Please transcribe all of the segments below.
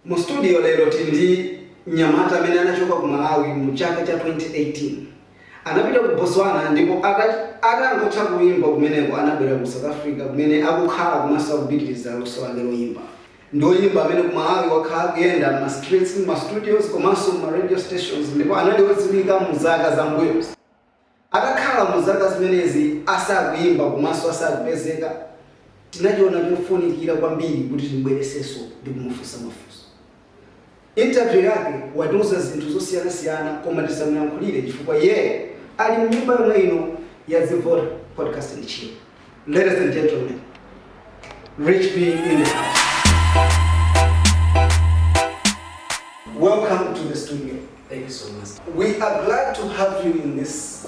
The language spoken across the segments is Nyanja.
mu studio lero tili ndi mnyamata amene anachoka ku malawi mu chaka cha 2018 anapita ku botswana ndipo atangotha kuyimba kumeneko anabwera ku south africa kumene akukhala komanso akupitiriza luso lake loyimba Ndi oyimba amene ku Malawi wakhala akuyenda mma streets, mma studios komanso mma radio stations ndipo anali odziwika mu zaka za mbuyozi. Atakhala mu zaka zimenezi asakuyimba komanso asakupezeka, tinachiona chofunikira kwambiri kuti tim'bweresenso ndi kumufunsa mafunso. Interview yake watiuza zinthu zosiyanasiyana koma tisamuyankhulire chifukwa iyeyo ali mnyumba yomwe ino ya dzivota podcast and chill ladies and gentlemen Rich B in the house welcome to the studio Thank you so much. we are glad to have you in this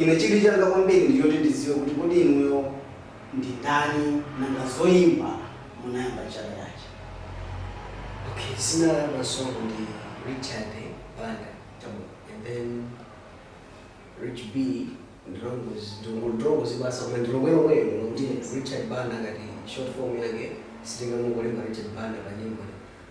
Ine chidwi changa kwambiri ndi choti ndidziwe kuti kodi inuyo ndi ndani nanga zoyimba munayamba chaka chanji? Ok dzina langa lonse ndi Richard Banda Chabwino and then Rich B ndi longodziwika basi koma ndi lomwe lomwelo lomwe kuti Richard Banda ngati short form yake sitingangolemba Richard Banda pa nyimbo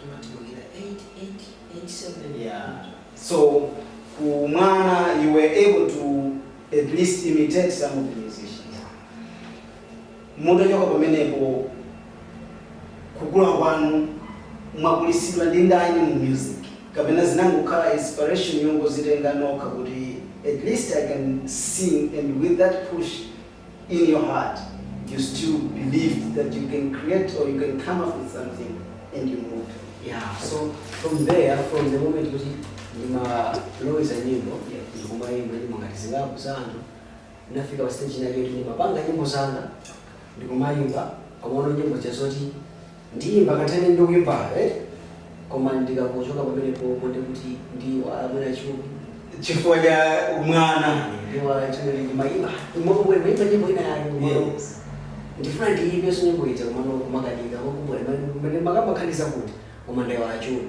Timatulukira 8887 ya so kumwana you were able to at least imitate some of the musicians mutachoka pamenepo kukula kwanu mwakulitsidwa ndi ndani mu music kapena zinangokhala inspiration yongozitenga nokha kuti at least i can sing and with that push in your heart you still believed that you can create or you can come up with something and you moved yeah so from there from the moment kuti ndimaloweza nyimbo Yeah. ndikumayimba nyimbo ngati zingapo za anthu ndinafika pa stage inake kuti ndimapanga nyimbo zanga ndikumayimba komano nyimbo chazoti Ndiyimba kutereku ndikuimba eh koma ndikangochoka pamenepo ndiye kuti ndiyiwala mwina chuni. Chifukwa cha umwana. Ndiyiwala chuni ndimayimba. Umako ndimayimba nyimbo ina yake umako. Yes. Ndifuna ndiyimbenso nyimbo ija komano kumakanika kwa kubwene mene makamba khaniza kuti koma ndayiwala chuni.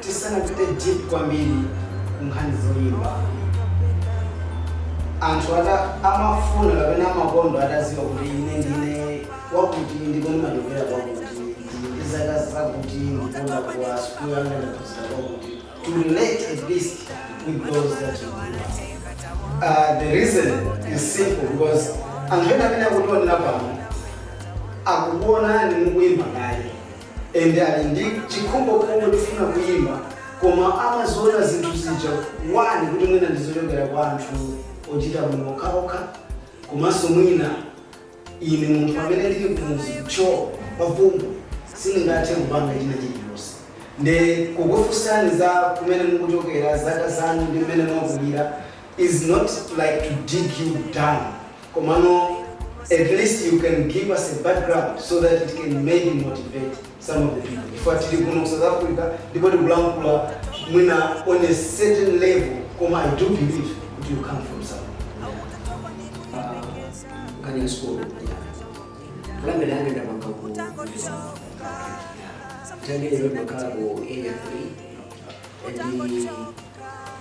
Tisanapite deep kwambiri ku nkhani zoyimba, anthu ata amafuna kapena amakondwa atadziwa kuti ine ndine wakuti ndipo ndimachokera kwakuti, ndili ndi zaka zakuti ndipo ndakula sukulu yanga ndaphunzira kwakuti, to relate at least with those that you grew up with. Aaa the reason is simple because anthu ena amene akutionera pano akukuonani mukuyimba kale. and ali ndi chikhumbokhumbo chofuna kuyimba koma amaziona zinthu zija one kuti mwina ndizochokera kwa anthu ochita bwino okhaokha komanso mwina ine munthu amene ndili kumuzi cho pafumbi sindingathe kupanga china chilichonse nde kukufunsani za kumene mukuchokera zaka zanu ndi mmene mwakulira is not like to dig you down komano at least you can give us a background so that it can maybe motivate some of the people chifukwa tili kuno ku south africa ndipo tikulankhula mwina on a certain level koma i do believe kuti you come from somewhere nkhani ya sukulu fulani ndani ndapanga ku tauni ndimakhala ku area 3 and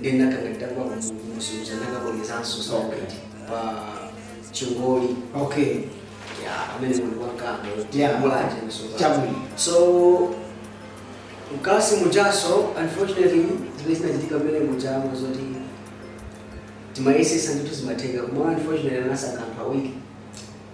ndiye ndinakanga nditagwa kumuzunguza ndakabwerezanso sawapiti pa chingoli okay ya amene munthu wankanga Yeah. mulanje msoza chabwino so mkati mujaso unfortunately zimene zinachitika pamene mujamo zoti timayesesa ndithu zimatheka koma unfortunately anasankha anthu awiri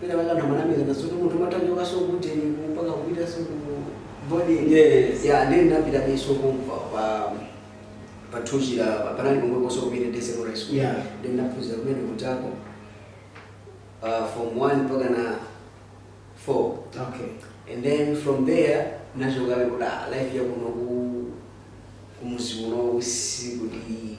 penapake namanamiza nasoto munthu matanjokaso kuteni mpaka kupitaso ku boarding Yes. ya nde ndinapitabeso kumva pa pa Thuchila panali pomwe koso community day secondary school Yeah. nde ndinaphunzira kumene kujako uh, form 1 mpaka na 4 okay and then from there nachokabe kuti ah, life yakuno ku kumuzi uno usikuti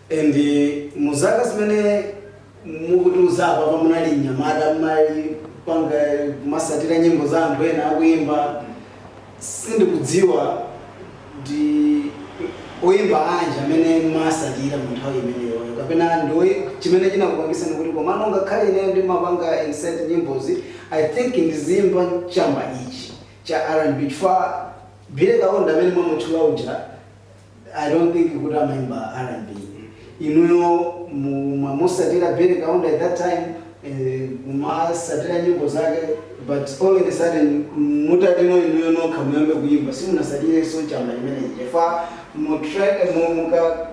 And mu zaka zimene mukutiuza apapa munali mnyamata mumapanga kumasatira nyimbo za anthu ena akuimba sindikudziwa ndi oimba anji amene mumasatira mu nthawi imeneyoyo kapena ndi oi- chimene chinakupangisani kuti komano ngakhale ineyo ndimapanga insert nyimbozi i think ndiziimba chamba ichi cha rnb chifukwa Billy Kaunda amene mwamutchula uja I don't think kuti amaimba R&B inuyo mumamusatira Billy Kaunda at that time eh, kumasatira nyimbo zake but all of a sudden mutati no inuyo nokha muyambe kuimba simunasatireso chamba chimenechi chifukwa mu track eh, mu- muka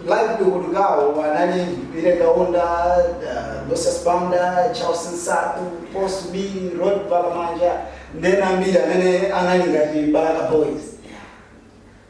live tukutukawo anali Billy Kaunda uh, Lucius Banda Charles Nsaku Post B Rod Valamanja ndi ena ambiri amene anali ngati Balaka Boys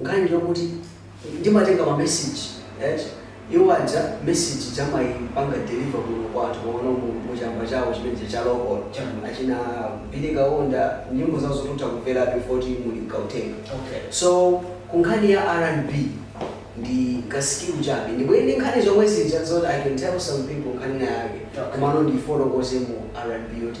Nkhani ndi yokuti ndimatenga ma message eti, iwo aja message ija amaipanga deliver kuno kwathu komano mu mu chamba chawo chimene chija cha local, Chabwino. achina Billy Kaunda nyimbo zawo zoti utha kumverabe chifukwa choti muli m'Gauteng. Okay. So ku nkhani ya RnB ndi ka skill chabe ndipo ili ndi nkhani zomwe zija zoti I can tell some people nkhani ina yake Chabwino. komano ndiifotokoze mu RnB yoti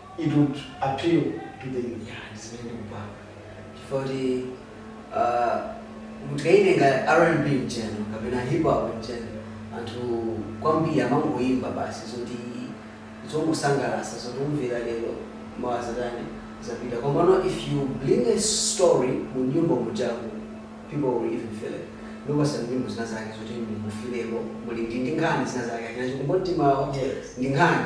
it would appeal to the youth. Yeah, ndi zimene ndikupanga chifukwa kuti ah, mutikayitenga rnb in general kapena hip hop in general anthu kwambiri amangoyimba basi zoti zongosangalatsa zoti umvera lero mawa zatani zapita komano if you bring a story mu nyimbo mujaku people will even feel it ndiye pa nyimbo zina zake zoti muyifileko muli ndi ndi nkhani zina zake achina chikumbumtima Yes. ndi nkhani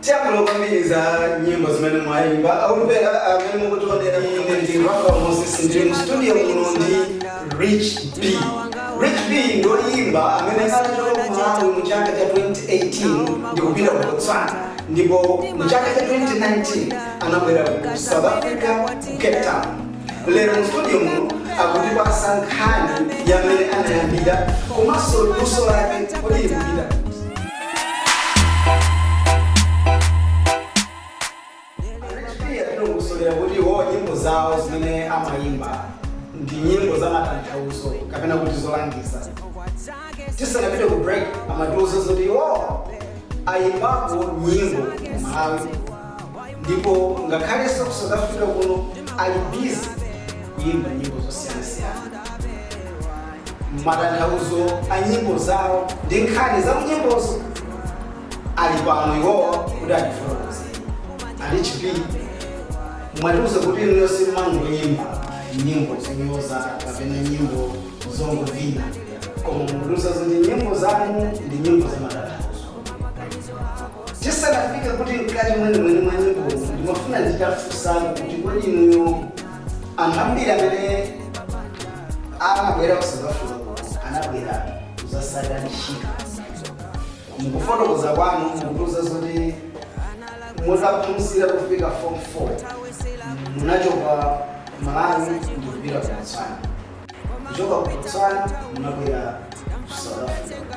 Tiyankhula kwambiri za nyimbo zimene mwayimba akumvera amene mukutionera kumene ndine Rafa Moses ndili mu studio muno ndi Rich B. Rich B ndi woyimba amene anachoka ku Malawi mu chaka cha 2018 ndi kupita ku Botswana ndipo mu chaka cha 2019 anabwera ku South Africa ku Cape Town Lero mu studio muno akutipatsa nkhani ya mmene anayambira komanso luso lake kodi likupita pati. Atilongosolera kuti iwo nyimbo zawo zimene amayimba ndi nyimbo za matanthauzo kapena kuti zolangiza. Tisanapite ku break amatiuza zoti iwo ayimbapo nyimbo ku Malawi ndipo ngakhalenso ku south africa kuno ali busy kuyimba nyimbo zosiyanasiyana matanthauzo a nyimbo zawo ndi nkhani za nyimbozo ali pano iwowa kuti atifotokoze a Rich B mwatiuza kuti inuyo simangoyimba nyimbo zonyoza kapena nyimbo zongovina koma mwatiuza zoti nyimbo zanu ndi nyimbo za matanthauzo tisanafike kuti mkati mwenimweni mwa nyimbozi ndimafuna nditafunsani kuti kodi inuyo anthu ambiri amene amabwera ku south africa kuno anabwera kudzasaka ntchito mukufotokoza kwanu mukutiuza zoti mutaphunzira kufika form 4 munachoka malawi ndikupita ku botswana kuchoka ku botswana munabwera ku south africa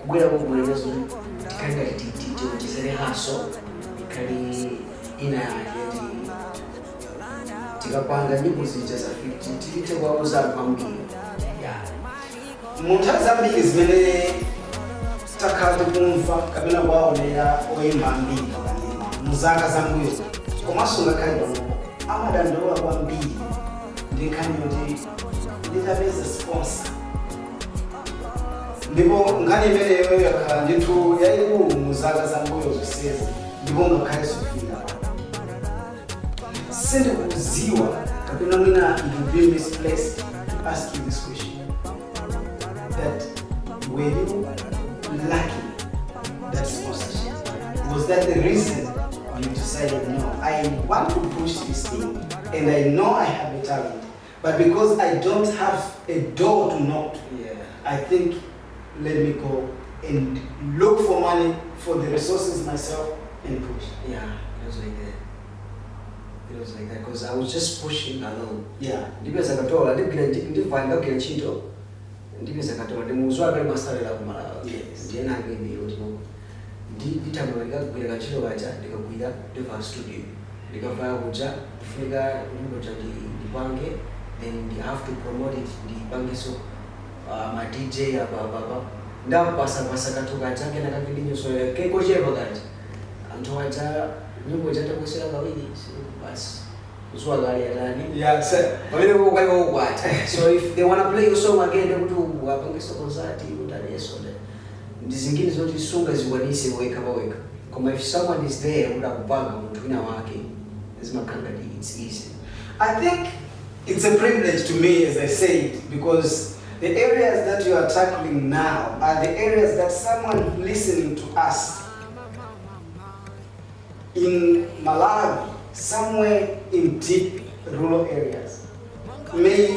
kubwera kuno zoti tikhali ngati ti- ti- tiwonjezere hustle ikhali ina yake ti- tikapanga nyimbo zija za 50 tiite kuwauza anthu ambiri yeah mu nthawi zambiri zimene takhala tikumva kapena kuwaonera oyimba ambiri pakanema mu zaka zambuyo komanso ngakhale panopo amadandaula kwambiri ndi nkhani yoti nditapeza sponsor ndipo nkhani imeneyo yakhala ndithu yayikulu mu zaka za mbuyo zonsezi ndipo ngakhale sofika sindikudziwa kapena mwina it will be misplaced to ask you this question that were you lacking that sponsorship was that the reason you decided no i want to push this thing and i know i have a talent but because I don't have a door to knock to, yeah. I think let me go and look for money for the resources myself and push. Yeah, it was like that. It was like that because I was just pushing along. Yeah. Ndipeza katola, ndipira ndivana ndagwira ntchito. Ndipeza katola, ndimuzwa pali masalera kumalawa. Yes. Ndiyena ngeni yoti ndipita mukagwira kantchito kaja ndikagwira ndipita ku studio ndikafika kuja kufunika nyimbo ija ndi ndipange then I have to promote it ndipangeso uh, ma dj apa apa apa ndapasapasa kathu kaja kena kake ndi nyusolera kekochepa kaja anthu aja nyimbo ija atakusewera kawiri si- basi kuzuwa kale atani Yeah, so, pamene kukwali wakukwata so if they wanna play your song again ndekuti apangeso konsati utaleso ndizingine zoti sungazikwanise wekha pawekha koma if someone is there kuti akupanga munthu wina wake zimakhala ngati its easy. I think its a privilege to me as I said because the areas that you are tackling now are the areas that someone listening to us in Malawi somewhere in deep rural areas may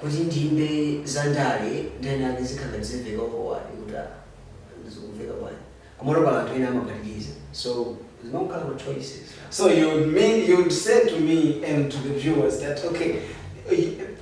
Kuti ndiimbe za ndale nthawi ina yake zikhala ngati zimveka kwa iwo kuti ah zikumveka bwanji komano pali anthu ena amaphatikiza so zimangokhala ma choices basi. So you would mean you would say to me and to the viewers that okay,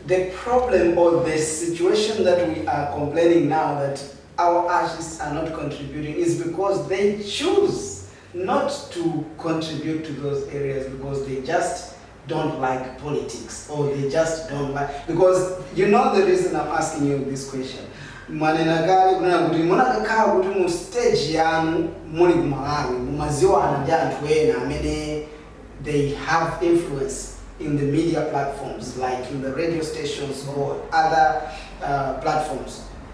the problem or the situation that we are complaining now that our artists are not contributing is because they choose not to contribute to those areas because they just don't like politics or they just don't like because you know the reason I'm asking you this question mwanena kale kunena kuti mukanakhala kuti mu stage yanu muli ku Malawi mumadziwana ndi anthu ena amene they have influence in the media platforms like in the radio stations or other uh, platforms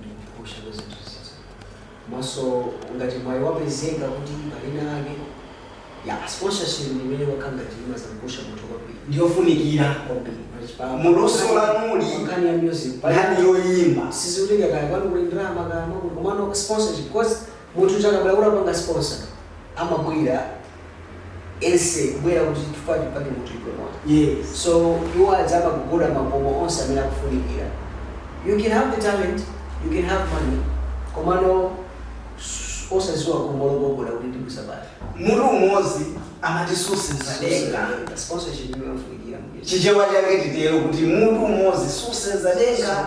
ndikupusha kwa zinthu zizi maso ngati mwayi wapezeka kuti pali nkhani yake ya sponsorship ndi imene wakhala ngati imazunguza mutu kwambiri ndiyofunikira kwambiri Pachipanga- mu luso lililonse nkhani ya music nkhani yoyimba sizikutengera kaya kwanu kuli ndalama kaya makulu komano sponsorship because munthu akabwera kuti apange sponsor amabwera ese kubwera kuti tifuna timpange munthu uyu promote Yes. so iwo adzapita kugogoda makomo onse amene akufunikira you can have the talent you can have money komano s- osadziwa khomo logogoda kuti ndibusabata Mutu umodzi amati susenza denga. sponsorship imene ikufunikira muketi Chichewa chake titero kuti mutu umodzi susenza denga.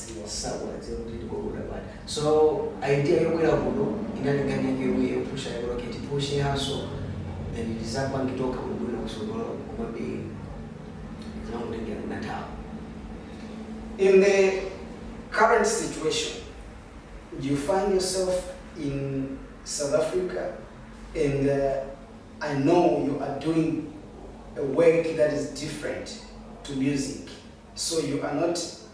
sakuwadziwa sakuwadziwa kuti ndikokuda bwana so idea yobwera kuno inali nkhani yake yomwe yopusha yolo kuti kupusha hustle then ndizapange zoti kubwera kusogolo komabe zinakutengera nthawi in the current situation you find yourself in south africa and uh, i know you are doing a work that is different to music so you are not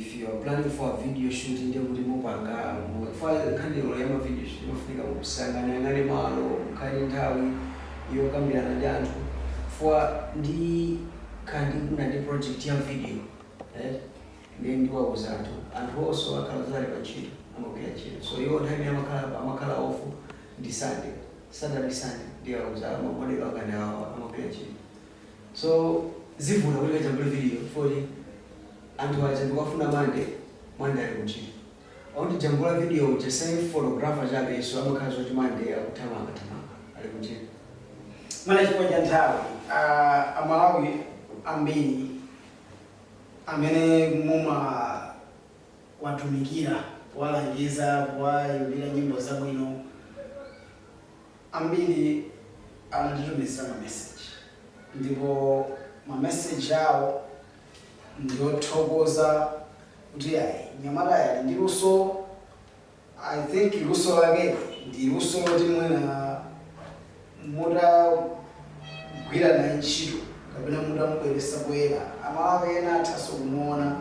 if you are planning for video shoot ndiye kuti mupange chifukwa nkhani olo ya ma video shoot imafunika musaka muyang'ane malo mukhale ndi nthawi yokambirana ndi anthu chifukwa ndikhala ndikufuna ndi project ya video right ndiye ndiwauza anthu anthu onse akhala zoti ali pa ntchito amagwira ntchito so iwo nthawi imene amakhala amakhala off ndi sunday saturday sunday ndiye ndiwauza ma model akanawa amagwira ntchito so zivuta kuti tikajambule video coz anthu aja ndikafuna mande mande ali kuntchito wondijambula video uja si photographer chabe so amakhala zoti mande akuthamanga thamanga ali kuntchito mana chifukwa cha nthawi ah, amalawi ambiri amene muma watumikira kuwalangiza kuwaimbira nyimbo zabwino Ambiri anatitumizira mameseji ndipo mameseji awo ndi othokoza kuti ayi mnyamatayo ali ndi luso. I think luso lakeli ndi luso loti mwina mutagwira naye ntchito kapena mutamubweretsa poyera Amalawi ena athanso kumuona,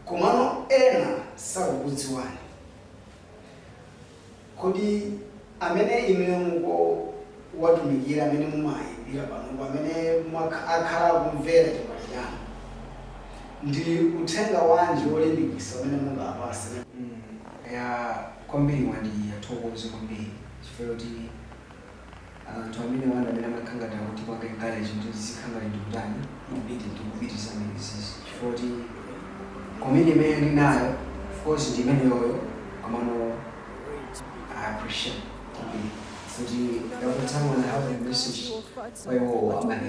komano ena sakukudziwani. Kodi amene inuyo mukuwatumikira, amene mumawaimbira panopo, amene mwakha, akhala akumvera chipatso chanu, ndi uthenga wanji wolimbikisa umene mungaapase? Mm, eya, kwambiri mwandi ndiwathokoze kwambiri chifukwa choti. anthu amene wanda amene amakhala ngati akutipanga encourage kuti tizikhala ngati tikutani tikupiti tikupitisa nyimbozi chifukwa kuti comment imene ndi nayo of course ndi imeneyoyo komano I appreciate kwambiri kuti ndakutsamona have a message kwa iwowo amene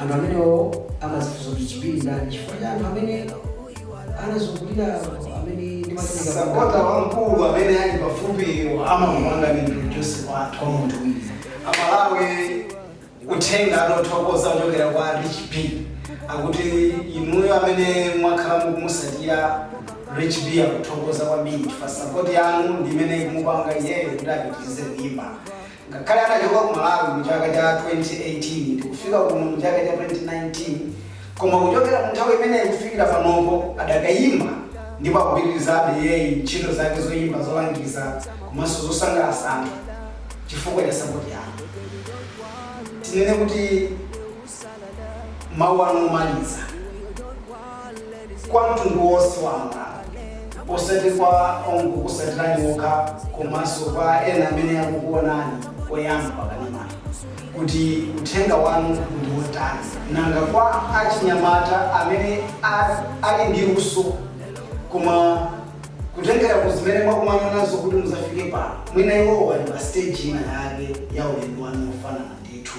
Anthu amenewo amadzifunsa kuti chipili ndani chifukwa cha anthu amene anandizungulira anthu amene ndimatumikira kwa Mulungu. Sapota wamkulu amene ali pafupiyo amandipanga introduce wathu kwa munthu wina. A Malawi uthenga wothokoza kuchokera kwa Rich B akuti inuyo amene mwakhala mukumusatira Rich B akuthokoza kwambiri chifukwa sapoti yanu ndi imene ikumupanga iyeyo kuti apitirize kuimba. Ngakhale anachoka ku Malawi mu chaka cha 2018 ndikufika kuno mu chaka cha 2019 koma kuchokera mu nthawi imeneyi kufikira panopo adakayimba ndipo akupitilizabe iyeyi ntchito zake zoyimba zolangiza komanso zosangalasa anthu chifukwa cha sapoti yanu tinene kuti mawu anu omaliza kwa mtundu wonse wa Malawi, osati kwa ongokusatirani okha komanso kwa ena amene akukuonani oyamba pakanema kuti uthenga wanu ndi wotani nanga kwa achinyamata amene a- ali ndi luso koma kutengera ku zimene mwakumana nazo kuti muzafike pano mwina iwowo ali pa stage ina yake ya ulendo wanu ofanana ndithu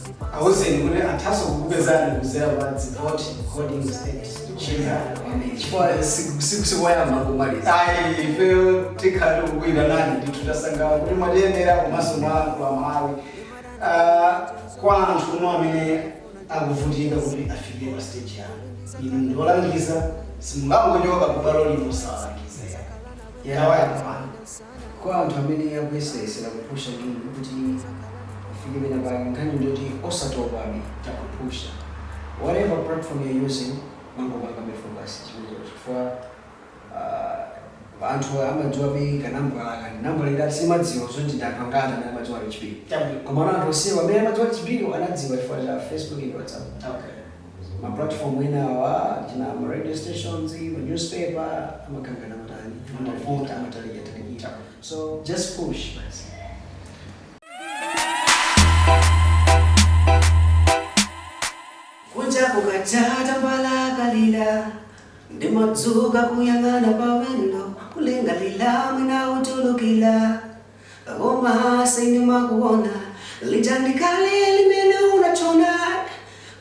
awuzeni kuti athaso kukupezani kudzera pa vote holding stage ina chifukwa siku- siku- sikoyamba kumaliza ayi ifeyo tikhala tikukuitanani ndithu tasangalala kuti mwatiyendera komanso mwalankhula malawi Ah, kwa anthu uno amene akuvutika kuti afike pa stage yanu inu ndiolangiza simungangochoka kubalo lino osalangiza yawayakwana Kwa anthu amene akuyesayesera kupusha ngini kuti afike pena pake nkhani ndiyoti osatopabe ndi kupusha whatever platform you're using mangopangabe focus chimenecho chifukwa aah anthu amadziwabe ka nambala aka ndi nambala iti ati sindimadziwa zoti ndi anthu angati amene amadziwa HP chabwino komano anthu onsewa amene amadziwa HP wo anadziwa chifukwa cha Facebook ndi WhatsApp okay. Ma platform enawa achina ma radio stations, ma newspaper amakangana matani, amavuta, amatalikira talikira. So just push basi. Kunja kukacha tambala kalila ndimadzuka kuyang'ana pa window kulingalira mwina utulukila Koma sindimakuona lija ndi kale limene unatchona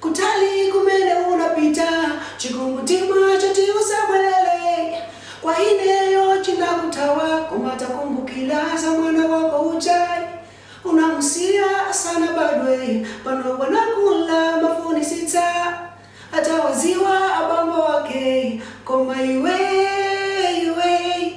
kutali kumene unapita chikumbumtima choti uzabwelele kwa ineyo chinakuthawa koma takumbukila za mwana wako uja unamusiya asanabadwe pano anakula amafunisitsa atawaziwa abambo ake koma iwee iwee